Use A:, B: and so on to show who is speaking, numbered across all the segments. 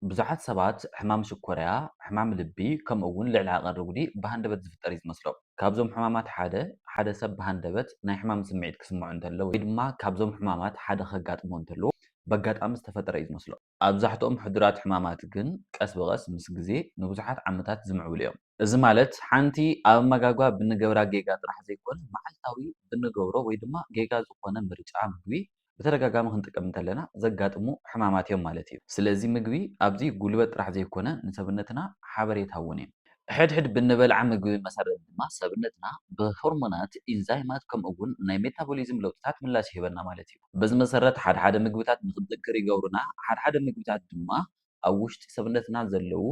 A: ብዙሓት ሰባት ሕማም ሽኮርያ፣ ሕማም ልቢ፣ ከምኡ'ውን ልዕሊ ዓቐን ርጉዲ ብሃንደበት ዝፍጠር እዩ ዝመስሎም። ካብዞም ሕማማት ሓደ፣ ሓደ ሰብ ብሃንደበት ናይ ሕማም ስምዒት ክስምዖ እንተሎ ወይ ድማ ካብዞም ሕማማት ሓደ ከጋጥሞ እንተሎ በጋጣሚ ዝተፈጠረ እዩ ዝመስሎ። ኣብዛሕትኦም ሕዱራት ሕማማት ግን ቀስ ብቐስ ምስ ግዜ ንብዙሓት ዓመታት ዝምዕብሉ እዮም። እዚ ማለት ሓንቲ ኣብ ኣመጋግባ ብንገብራ ጌጋ ጥራሕ ዘይኮነ መዓልታዊ ብንገብሮ ወይ ድማ ጌጋ ዝኾነ ምርጫ ምግቢ ብተደጋጋሚ ክንጥቀም እንተለና ዘጋጥሙ ሕማማት እዮም ማለት እዩ። ስለዚ ምግቢ ኣብዚ ጉልበት ጥራሕ ዘይኮነ ንሰብነትና ሓበሬታ እውን እዩ። ሕድሕድ ብንበልዓ ምግቢ መሰረት ድማ ሰብነትና ብሆርሞናት፣ ኢንዛይማት ከምኡ እውን ናይ ሜታቦሊዝም ለውጥታት ምላሽ ይህበና ማለት እዩ። በዚ መሰረት ሓድሓደ ምግብታት ንክንዝክር ይገብሩና ሓድሓደ ምግብታት ድማ ኣብ ውሽጢ ሰብነትና ዘለዉ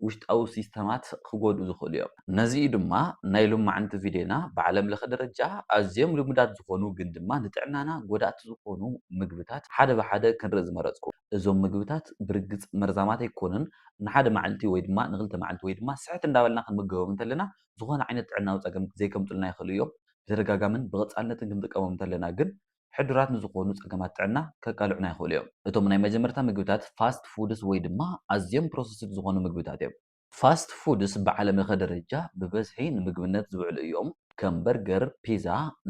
A: ውሽጣዊ ሲስተማት ክጎድኡ ዝኽእሉ እዮም። ነዚ እዩ ድማ ናይ ሎማዕንቲ ቪድዮና ብዓለም ለኸ ደረጃ ኣዝዮም ልሙዳት ዝኾኑ ግን ድማ ንጥዕናና ጎዳእቲ ዝኾኑ ምግብታት ሓደ ብሓደ ክንርኢ ዝመረጽኩ። እዞም ምግብታት ብርግጽ መርዛማት ኣይኮኑን፣ ንሓደ መዓልቲ ወይ ድማ ንኽልተ መዓልቲ ወይ ድማ ስሕት እንዳበልና ክንምገቦም እንተለና ዝኾነ ዓይነት ጥዕናዊ ጸገም ዘይከምጹልና ይኽእሉ እዮም። ብተደጋጋምን ብቐጻልነትን ክንጥቀሞም እንተለና ግን ሕዱራት ንዝኾኑ ጸገማት ጥዕና ከቃልዑና ይኽእሉ እዮም። እቶም ናይ መጀመርታ ምግብታት ፋስት ፉድስ ወይ ድማ ኣዝዮም ፕሮሰስድ ዝኾኑ ምግብታት እዮም። ፋስት ፉድስ ብዓለምለኸ ደረጃ ብበዝሒ ንምግብነት ዝውዕሉ እዮም፣ ከም በርገር፣ ፒዛ፣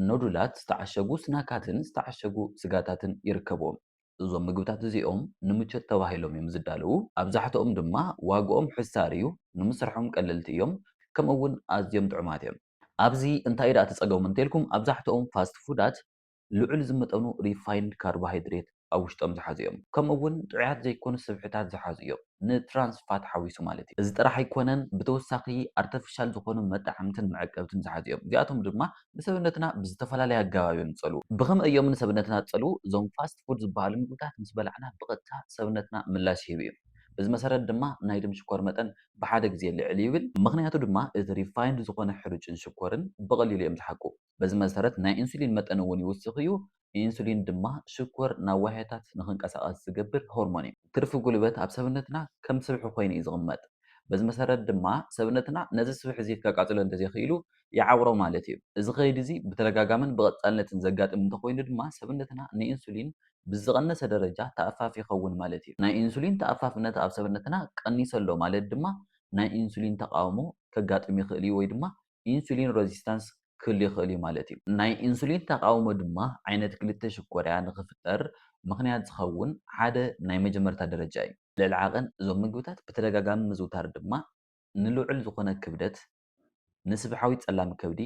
A: ኖዱላት፣ ዝተዓሸጉ ስናካትን ዝተዓሸጉ ስጋታትን ይርከብዎም። እዞም ምግብታት እዚኦም ንምቾት ተባሂሎም እዮም ዝዳለዉ፣ ኣብዛሕትኦም ድማ ዋግኦም ሕሳር እዩ፣ ንምስርሖም ቀለልቲ እዮም፣ ከምኡ'ውን ኣዝዮም ጥዑማት እዮም። ኣብዚ እንታይ ደኣ ተጸገሙ እንተልኩም ኣብዛሕትኦም ፋስት ፉዳት ልዑል ዝመጠኑ ሪፋይንድ ካርቦሃይድሬት ኣብ ውሽጦም ዝሓዙ እዮም ከምኡ እውን ጥዑያት ዘይኮኑ ስብሕታት ዝሓዙ እዮም ን ትራንስ ፋት ሓዊሱ ማለት እዩ። እዚ ጥራሕ ኣይኮነን ብተወሳኺ ኣርተፍሻል ዝኾኑ መጣዕምትን መዐቀብትን ዝሓዙ እዮም እዚኣቶም ድማ ንሰብነትና ብዝተፈላለየ ኣገባብ እዮም ዝጸልዉ። ብኸመይ እዮም ንሰብነትና ዝጸልዉ? እዞም ፋስት ፉድ ዝበሃሉ ምግብታት ምስ በላዕና ብቐጥታ ሰብነትና ምላሽ ይህብ እዩ። በዚ መሰረት ድማ ናይ ደም ሽኮር መጠን ብሓደ ግዜ ልዕል ይብል። ምኽንያቱ ድማ እቲ ሪፋይንድ ዝኾነ ሕሩጭን ሽኮርን ብቐሊሉ እዮም ዝሓቁ። በዚ መሰረት ናይ ኢንሱሊን መጠን እውን ይውስኽ እዩ። ኢንሱሊን ድማ ሽኮር ናብ ዋህዮታት ንኽንቀሳቐስ ዝገብር ሆርሞን እዩ። ትርፊ ጉልበት ኣብ ሰብነትና ከም ስብሒ ኮይኑ እዩ ዝቕመጥ። በዚ መሰረት ድማ ሰብነትና ነዚ ስብሒ እዚ ከቃፅሎ እንተዘይኽኢሉ ይዓውሮ ማለት እዩ። እዚ ከይዲ እዚ ብተደጋጋምን ብቐፃልነትን ዘጋጥም እንተኾይኑ ድማ ሰብነትና ንኢንሱሊን ብዝቐነሰ ደረጃ ተኣፋፊ ይኸውን ማለት እዩ። ናይ ኢንሱሊን ተኣፋፍነት ኣብ ሰብነትና ቀኒሰ ኣሎ ማለት ድማ ናይ ኢንሱሊን ተቓውሞ ከጋጥም ይኽእል እዩ ወይ ድማ ኢንሱሊን ረዚስታንስ ክህሉ ይኽእል እዩ ማለት እዩ። ናይ ኢንሱሊን ተቓውሞ ድማ ዓይነት ክልተ ሽኮርያ ንኽፍጠር ምኽንያት ዝኸውን ሓደ ናይ መጀመርታ ደረጃ እዩ። ልዕሊ ዓቐን እዞም ምግብታት ብተደጋጋሚ ምዝውታር ድማ ንልዑል ዝኾነ ክብደት ንስብሓዊ ጸላም ከብዲ፣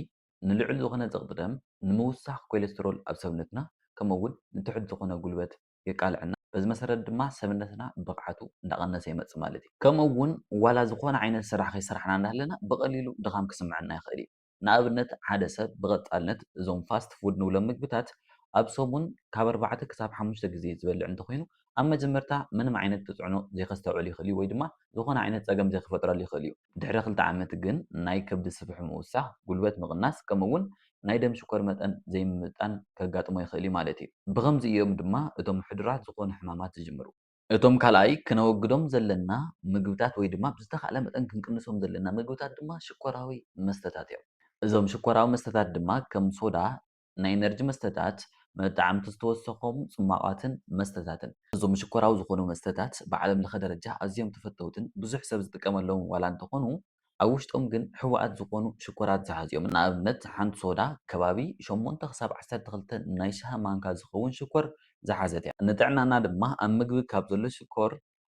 A: ንልዑል ዝዀነ ጸቕጢ ደም፣ ንምውሳኽ ኮለስትሮል ኣብ ሰብነትና፣ ከምኡ'ውን ንትሑት ዝዀነ ጉልበት የቃልዐና። በዚ መሰረት ድማ ሰብነትና ብቕዓቱ እንዳቐነሰ ይመጽእ ማለት እዩ። ከምኡ'ውን ዋላ ዝዀነ ዓይነት ስራሕ ከይሰራሕና እንዳሃለና ብቐሊሉ ድኻም ክስምዐና ይኽእል እዩ። ንኣብነት ሓደ ሰብ ብቐጻልነት እዞም ፋስት ፉድ ንብሎም ምግብታት ኣብ ሰሙን ካብ ኣርባዕተ ክሳብ ሓሙሽተ ግዜ ዝበልዕ እንተዀይኑ፣ ኣብ መጀመርታ ምንም ዓይነት ተጽዕኖ ዘይከስተውዕል ይኽእል እዩ ወይ ድማ ዝዀነ ዓይነት ጸገም ዘይክፈጥረሉ ይኽእል እዩ። ድሕሪ ክልተ ዓመት ግን ናይ ከብዲ ስፍሕ ምውሳኽ፣ ጉልበት ምቕናስ ከምኡ'ውን ናይ ደም ሽኮር መጠን ዘይምምጥጣን ከጋጥሞ ይኽእል'ዩ ማለት'ዩ። ብኸምዚ እዮም ድማ እቶም ሕዱራት ዝኾኑ ሕማማት ዝጅምሩ። እቶም ካልኣይ ክነወግዶም ዘለና ምግብታት ወይ ድማ ብዝተኻእለ መጠን ክንቅንሶም ዘለና ምግብታት ድማ ሽኮራዊ መስተታት'ዮም። እዞም ሽኮራዊ መስተታት ድማ ከም ሶዳ፣ ናይ ኢነርጂ መስተታት፣ መጠዓምቲ ዝተወሰኾም ጽሟቓትን መስተታትን። እዞም ሽኮራዊ ዝኾኑ መስተታት ብዓለም ለኸ ደረጃ ኣዝዮም ተፈተውትን ብዙሕ ሰብ ዝጥቀመሎምን ዋላ እንተኾኑ ኣብ ውሽጦም ግን ሕቡኣት ዝኾኑ ሽኮራት ዝሓዙ እዮም። ንኣብነት ሓንቲ ሶዳ ከባቢ ሸሞንተ ክሳብ ዓሰርተ ክልተ ናይ ሻሂ ማንካ ዝኸውን ሽኮር ዝሓዘት እያ። ንጥዕናና ድማ ኣብ ምግቢ ካብ ዘሎ ሽኮር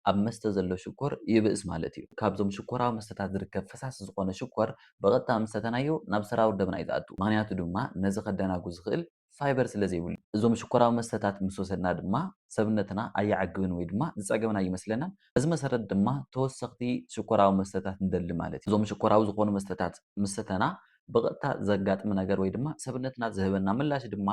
A: ኣብ መስተ ዘሎ ሽኮር ይብእስ ማለት እዩ። ካብዞም ሽኮራዊ መስተታት ዝርከብ ፈሳሲ ዝኾነ ሽኮር ብቐጥታ ምስ ሰተናዮ ናብ ሰራውር ደምና እዩ ዝኣቱ። ምኽንያቱ ድማ ነዚ ከደናጉ ዝኽእል ፋይበር ስለ ዘይብሉ። እዞም ሽኮራዊ መስተታት ምስ ወሰድና ድማ ሰብነትና ኣይዓግብን ወይ ድማ ዝጸገብና ኣይመስለናን። በዚ መሰረት ድማ ተወሰኽቲ ሽኮራዊ መስተታት ንደሊ ማለት እዩ። እዞም ሽኮራዊ ዝኾኑ መስተታት ምስ ሰተና ብቐጥታ ዘጋጥም ነገር ወይ ድማ ሰብነትና ዝህበና ምላሽ ድማ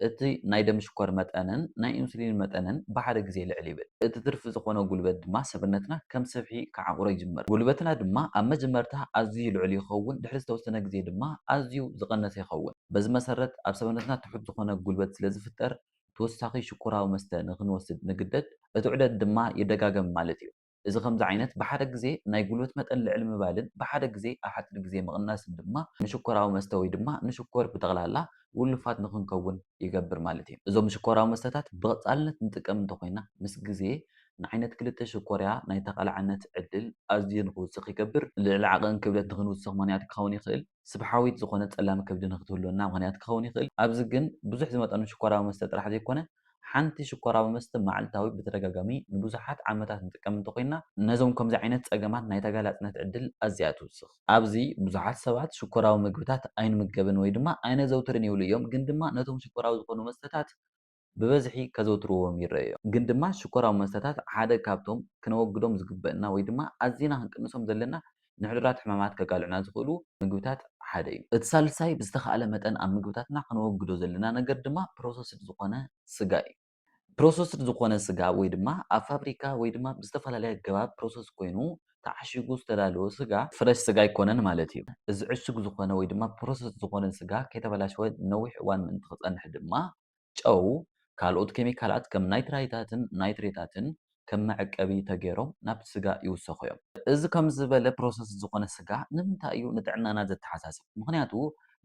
A: እቲ ናይ ደም ሽኮር መጠንን ናይ ኢንሱሊን መጠንን ብሓደ ግዜ ልዕል ይብል። እቲ ትርፊ ዝኾነ ጉልበት ድማ ሰብነትና ከም ሰብሒ ክዓቑሮ ይጅምር። ጉልበትና ድማ ኣብ መጀመርታ ኣዝዩ ልዑል ይኸውን፣ ድሕሪ ዝተወሰነ ግዜ ድማ ኣዝዩ ዝቐነሰ ይኸውን። በዚ መሰረት ኣብ ሰብነትና ትሑት ዝኾነ ጉልበት ስለ ዝፍጠር ተወሳኺ ሽኮራዊ መስተ ንኽንወስድ ንግደድ፣ እቲ ዑደት ድማ ይደጋገም ማለት እዩ። እዚ ከምዚ ዓይነት ብሓደ ግዜ ናይ ጉልበት መጠን ልዕል ምባልን ብሓደ ግዜ ኣብ ሓጺር ግዜ ምቕናስን ድማ ንሽኮራዊ መስተ ወይ ድማ ንሽኮር ብጠቕላላ ውሉፋት ንኽንከውን ይገብር ማለት እዩ። እዞም ሽኮራዊ መስተታት ብቐጻልነት ንጥቀም እንተኾይና ምስ ግዜ ንዓይነት ክልተ ሽኮርያ ናይ ተቓላዕነት ዕድል ኣዝዩ ንኽውስኽ ይገብር። ልዕሊ ዓቐን ክብደት ንኽንውስኽ ምኽንያት ክኸውን ይኽእል። ስብሓዊት ዝኾነት ጸላም ከብዲ ንኽትህልወና ምኽንያት ክኸውን ይኽእል። ኣብዚ ግን ብዙሕ ዝመጠኑ ሽኮራዊ መስተ ጥራሕ ዘይኮነ፣ ሓንቲ ሽኮራዊ መስተ መዓልታዊ ብተደጋጋሚ ንብዙሓት ዓመታት ንጥቀም እንተኾይንና፣ ነዞም ከምዚ ዓይነት ጸገማት ናይ ተጋላጽነት ዕድል ኣዝያ ትውስኽ። ኣብዚ ብዙሓት ሰባት ሽኮራዊ መግብታት ኣይንምገብን ወይ ድማ ኣይነዘውትርን ይብሉ እዮም፣ ግን ድማ ነቶም ሽኮራዊ ዝኾኑ መስተታት ብበዝሒ ከዘውትርዎም ይረኣዩ'ዮም። ግን ድማ ሽኮራዊ መስተታት ሓደ ካብቶም ክነወግዶም ዝግበእና ወይ ድማ ኣዚና ክንቅንሶም ዘለና ንሕዱራት ሕማማት ከቃልዑና ዝኽእሉ ምግብታት ሓደ'ዩ። እቲ ሳልሳይ ብዝተኻእለ መጠን ኣብ ምግብታትና ከነወግዶ ዘለና ነገር ድማ ፕሮሰስድ ዝኾነ ስጋ'ዩ። ፕሮሰስድ ዝኾነ ስጋ ወይ ድማ ኣብ ፋብሪካ ወይ ድማ ብዝተፈላለየ ኣገባብ ፕሮሰስ ኮይኑ ተዓሺጉ ዝተዳለወ ስጋ፣ ፍረሽ ስጋ ኣይኮነን ማለት'ዩ። እዚ ዕሹግ ዝኾነ ወይ ድማ ፕሮሰስድ ዝኾነ ስጋ ከይተበላሸወ ንነዊሕ እዋን ምእንቲ ክጸንሕ ድማ ጨው፣ ካልኦት ኬሚካላት ከም ናይትራይታትን ናይትሬታትን ከም መዕቀቢ ተገይሮም ናብቲ ስጋ ይውሰኹ እዮም። እዚ ከምዚ ዝበለ ፕሮሰስድ ዝኾነ ስጋ ንምንታይ እዩ ንጥዕናና ዘተሓሳስብ? ምኽንያቱ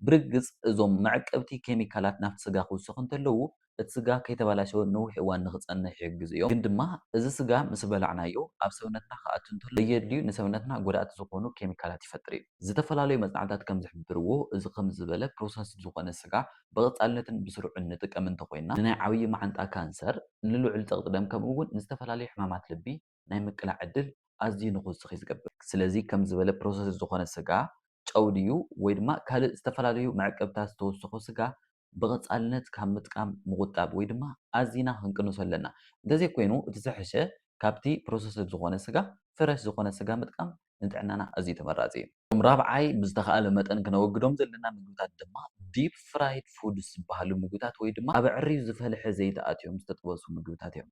A: ብርግጽ እዞም መዕቀብቲ ኬሚካላት ናብቲ ስጋ ክውሰኹ እንተለዉ እቲ ስጋ ከይተበላሸወ ንነዊሕ እዋን ንኽጸንሕ ይሕግዙ እዮም። ግን ድማ እዚ ስጋ ምስ በላዕናዮ ኣብ ሰብነትና ክኣቱ እንተሎ ዘየድልዩ ንሰብነትና ጎዳእቲ ዝኾኑ ኬሚካላት ይፈጥር እዩ። ዝተፈላለዩ መጽናዕትታት ከም ዝሕብርዎ እዚ ከምዚ ዝበለ ፕሮሰስድ ዝኾነ ስጋ ብቐጻልነትን ብስሩዕን ንጥቀም እንተኾይንና፣ ንናይ ዓብዪ መዓንጣ ካንሰር፣ ንልዑል ጸቕጢ ደም ከምኡ'ውን ንዝተፈላለዩ ሕማማት ልቢ ናይ ምቅላዕ ዕድል ኣዝዩ ንኽውስኽ እዩ ዝገብር። ስለዚ ከምዚ ዝበለ ፕሮሰስድ ዝኾነ ስጋ፣ ጨው ድዩ ወይ ድማ ካልእ ዝተፈላለዩ መዕቀብታት ዝተወሰኾ ስጋ ብቐጻልነት ካብ ምጥቃም ምቑጣብ ወይ ድማ ኣዚና ክንቅንሶ ኣለና። እንተዘይኮይኑ እቲ ዝሐሸ ካብቲ ፕሮሰስድ ዝኾነ ስጋ ፍረሽ ዝኾነ ስጋ ምጥቃም ንጥዕናና ኣዝዩ ተመራጺ እዩ። እቶም ራብዓይ ብዝተኻእለ መጠን ክነወግዶም ዘለና ምግብታት ድማ ዲፕ ፍራይድ ፉድስ ዝበሃሉ ምግብታት ወይ ድማ ኣብ ኣዐርዩ ዝፈልሐ ዘይቲ ኣትዮም ዝተጠበሱ ምግብታት እዮም።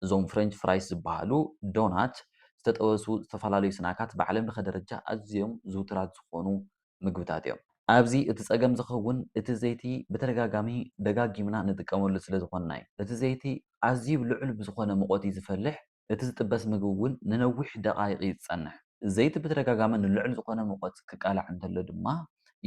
A: እዞም ፍረንች ፍራይስ ዝበሃሉ፣ ዶናት፣ ዝተጠበሱ ዝተፈላለዩ ስናካት ብዓለምለኸ ደረጃ ኣዝዮም ዝውቱራት ዝኾኑ ምግብታት እዮም። ኣብዚ እቲ ጸገም ዝኸውን እቲ ዘይቲ ብተደጋጋሚ ደጋጊምና ንጥቀመሉ ስለ ዝኾንና እዩ። እቲ ዘይቲ ኣዝዩ ልዑል ብዝኾነ ሙቐት እዩ ዝፈልሕ፣ እቲ ዝጥበስ ምግቢ እውን ንነዊሕ ደቓይቕ እዩ ዝጸንሕ። ዘይቲ ብተደጋጋሚ ንልዑል ዝኾነ ሙቐት ክቃላዕ እንተሎ ድማ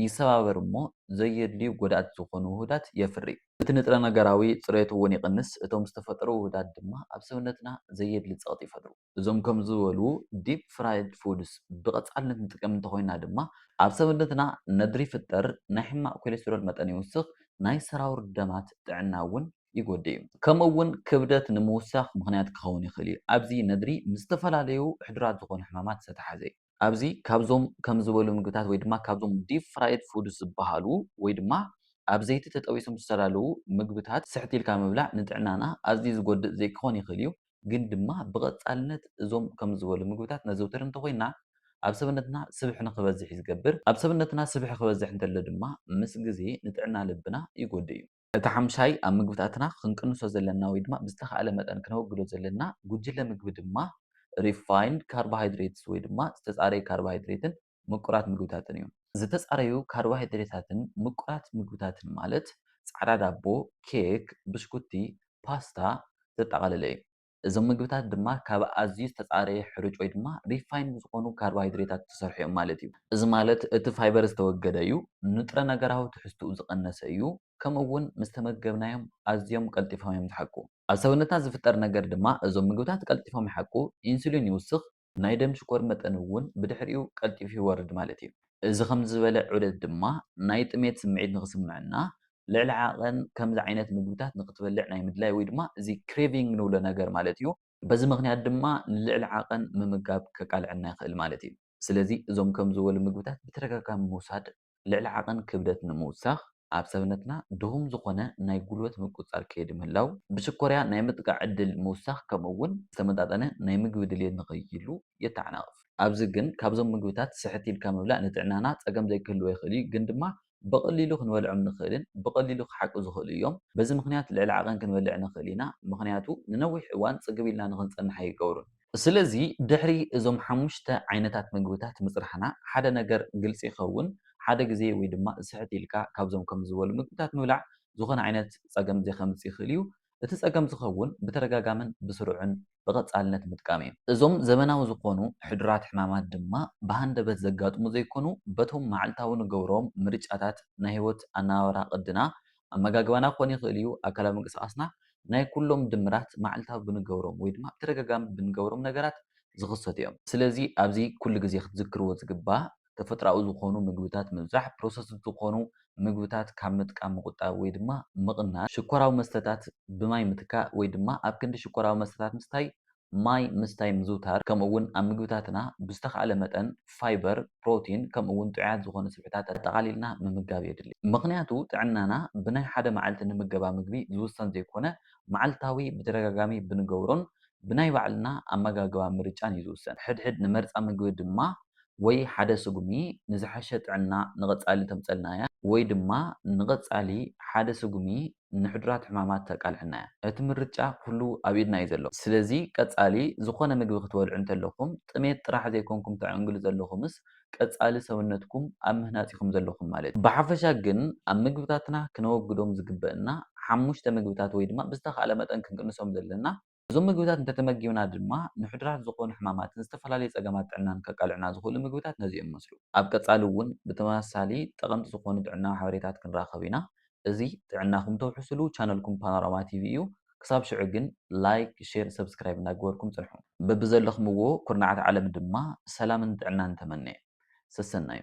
A: ይሰባበር እሞ ዘየድልዩ ጎዳእቲ ዝኾኑ ውሁዳት የፍሪ። እቲ ንጥረ ነገራዊ ጽሬቱ እውን ይቕንስ፣ እቶም ዝተፈጠሩ ውሁዳት ድማ ኣብ ሰብነትና ዘየድሊ ጸቕጢ ይፈጥሩ። እዞም ከምዝበሉ ዲፕ ፍራይድ ፉድስ ብቐጻልነት ንጥቀም እንተኾይና ድማ፣ ኣብ ሰብነትና ነድሪ ይፍጠር፣ ናይ ሕማቕ ኮሌስትሮል መጠን ይውስኽ፣ ናይ ሰራውር ደማት ጥዕና እውን ይጎድእ እዩ። ከምኡ እውን ክብደት ንምውሳኽ ምኽንያት ክኸውን ይኽእል እዩ። ኣብዚ ነድሪ ምስ ዝተፈላለዩ ሕዱራት ዝኾኑ ሕማማት ዝተተሓዘ እዩ። ኣብዚ ካብዞም ከምዝበሉ ምግብታት ወይ ድማ ካብዞም ዲፕ ፍራይድ ፉድስ ዝበሃሉ ወይ ድማ ኣብ ዘይቲ ተጠቢሶም ዝተዳለዉ ምግብታት ስሕት ኢልካ ምብላዕ ንጥዕናና ኣዝዩ ዝጎድእ ዘይክኾን ይኽእል እዩ። ግን ድማ ብቐጻልነት እዞም ከም ዝበሉ ምግብታት ነዘውትር እንተ ኾይንና፣ ኣብ ሰብነትና ስብሒ ንኽበዝሕ እዩ ዝገብር። ኣብ ሰብነትና ስብሒ ክበዝሕ እንተሎ ድማ ምስ ግዜ ንጥዕና ልብና ይጎድእ እዩ። እቲ ሓምሻይ ኣብ ምግብታትና ክንቅንሶ ዘለና ወይ ድማ ብዝተኻእለ መጠን ክነወግዶ ዘለና ጉጅለ ምግቢ ድማ ሪፋይንድ ካርቦሃይድሬትስ ወይ ድማ ዝተጻረየ ካርቦሃይድሬትን ምቁራት ምግብታትን እዮም። ዝተጻረዩ ካርቦሃይድሬታትን ምቁራት ምግብታትን ማለት ጻዕዳ ዳቦ፣ ኬክ፣ ብሽኩቲ፣ ፓስታ ዘጠቓለለ እዩ። እዞም ምግብታት ድማ ካብ ኣዝዩ ዝተጻረየ ሕሩጭ ወይ ድማ ሪፋይንድ ዝኾኑ ካርቦሃይድሬታት ዝተሰርሑ እዮም ማለት እዩ። እዚ ማለት እቲ ፋይበር ዝተወገደ እዩ፣ ንጥረ ነገራዊ ትሕዝትኡ ዝቐነሰ እዩ፣ ከምኡ እውን ምስ ተመገብናዮም ኣዝዮም ቀልጢፎም እዮም ዝሓቁ። ኣብ ሰብነትና ዝፍጠር ነገር ድማ እዞም ምግብታት ቀልጢፎም ይሓቁ፣ ኢንሱሊን ይውስኽ፣ ናይ ደም ሽኮር መጠን እውን ብድሕሪኡ ቀልጢፉ ይወርድ ማለት እዩ። እዚ ከምዚ ዝበለ ዑደት ድማ ናይ ጥሜት ስምዒት ንኽስምዐና ልዕሊ ዓቐን ከምዚ ዓይነት ምግብታት ንኽትበልዕ ናይ ምድላይ ወይ ድማ እዚ ክሬቪንግ ንብሎ ነገር ማለት እዩ፣ በዚ ምኽንያት ድማ ንልዕሊ ዓቐን ምምጋብ ከቃልዐና ይኽእል ማለት እዩ። ስለዚ እዞም ከምዚ ዝበሉ ምግብታት ብተደጋጋሚ ምውሳድ ልዕሊ ዓቐን ክብደት ንምውሳኽ፣ ኣብ ሰብነትና ድኹም ዝኾነ ናይ ጉልበት ምቁጽጻር ከይዲ ምህላው፣ ብሽኮርያ ናይ ምጥቃዕ ዕድል ምውሳኽ ከምኡ እውን ዝተመጣጠነ ናይ ምግቢ ድልየት ንኸይህሉ የተዓናቕፍ። ኣብዚ ግን ካብዞም ምግብታት ስሕት ኢልካ ምብላዕ ንጥዕናና ጸገም ዘይክህልዎ ይኽእል እዩ፣ ግን ድማ ብቐሊሉ ክንበልዖም ንኽእልን ብቐሊሉ ክሓቁ ዝኽእሉ እዮም። በዚ ምኽንያት ልዕሊ ዓቐን ክንበልዕ ንኽእል ኢና፣ ምኽንያቱ ንነዊሕ እዋን ጽግብ ኢልና ንኽንጸንሕ ኣይገብሩን። ስለዚ ድሕሪ እዞም ሓሙሽተ ዓይነታት ምግብታት ምጽናሕና ሓደ ነገር ግልጺ ይኸውን፣ ሓደ ግዜ ወይ ድማ ስሕት ኢልካ ካብዞም ከምዚ ዝበሉ ምግብታት ምብላዕ ዝኾነ ዓይነት ጸገም ዘይከምጽእ ይኽእል እዩ። እቲ ጸገም ዝኸውን ብተደጋጋምን ብስሩዕን ብቐጻልነት ምጥቃም እዩ። እዞም ዘበናዊ ዝኾኑ ሕዱራት ሕማማት ድማ ብሃንደበት ዘጋጥሙ ዘይኮኑ በቶም መዓልታዊ ንገብሮም ምርጫታት ናይ ህይወት ኣነባብራ ቅድና ኣመጋግባና ክኾን ይኽእል እዩ፣ ኣካላዊ ምንቅስቓስና፣ ናይ ኩሎም ድምራት መዓልታዊ ብንገብሮም ወይ ድማ ብተደጋጋሚ ብንገብሮም ነገራት ዝኽሰቱ እዮም። ስለዚ ኣብዚ ኩሉ ግዜ ክትዝክርዎ ዝግባእ ተፈጥሮኣዊ ዝኾኑ ምግብታት ምብዛሕ፣ ፕሮሰስድ ዝኾኑ ምግብታት ካብ ምጥቃም ምቑጣብ ወይ ድማ ምቕናስ፣ ሽኮራዊ መስተታት ብማይ ምትካእ ወይ ድማ ኣብ ክንዲ ሽኮራዊ መስተታት ምስታይ ማይ ምስታይ ምዝውታር ከምኡ እውን ኣብ ምግብታትና ብዝተኻእለ መጠን ፋይበር፣ ፕሮቲን ከምኡ እውን ጥዑያት ዝኾኑ ስብሕታት ኣጠቓሊልና ምምጋብ የድሊ። ምኽንያቱ ጥዕናና ብናይ ሓደ መዓልቲ ንምገባ ምግቢ ዝውሰን ዘይኮነ መዓልታዊ ብተደጋጋሚ ብንገብሮን ብናይ ባዕልና ኣመጋግባ ምርጫን እዩ ዝውሰን። ሕድሕድ ንመርፃ ምግቢ ድማ ወይ ሓደ ስጉሚ ንዝሐሸ ጥዕና ንቐፃሊ ተምፀልና እያ ወይ ድማ ንቐፃሊ ሓደ ስጉሚ ንሕዱራት ሕማማት ተቃልዐና እያ። እቲ ምርጫ ኩሉ ኣብ ኢድና እዩ ዘሎ። ስለዚ ቀጻሊ ዝኾነ ምግቢ ክትበልዑ እንተለኹም ጥሜት ጥራሕ ዘይኮንኩም ተዐንግሉ ዘለኹምስ ቀጻሊ ሰውነትኩም ኣብ ምህናጽ ኢኹም ዘለኹም ማለት እዩ። ብሓፈሻ ግን ኣብ ምግብታትና ክነወግዶም ዝግበእና ሓሙሽተ ምግብታት ወይ ድማ ብዝተኻእለ መጠን ክንቅንሶም ዘለና እዞም ምግብታት እንተተመጊብና ድማ ንሕዱራት ዝኾኑ ሕማማትን ዝተፈላለዩ ፀገማት ጥዕናን ከቃልዑና ዝኽእሉ ምግብታት ነዚኦም ይመስሉ። ኣብ ቀፃሊ እውን ብተመሳሳሊ ጠቐምቲ ዝኾኑ ጥዕናዊ ሓበሬታት ክንራኸብ ኢና። እዚ ጥዕናኹም ተውሕስሉ ቻነልኩም ፓኖራማ ቲቪ እዩ። ክሳብ ሽዑ ግን ላይክ፣ ሼር፣ ሰብስክራይብ እናገበርኩም ፅንሑ። በብዘለኽምዎ ኩርናዓት ዓለም ድማ ሰላምን ጥዕናን ተመነየ። ሰሰናዩ!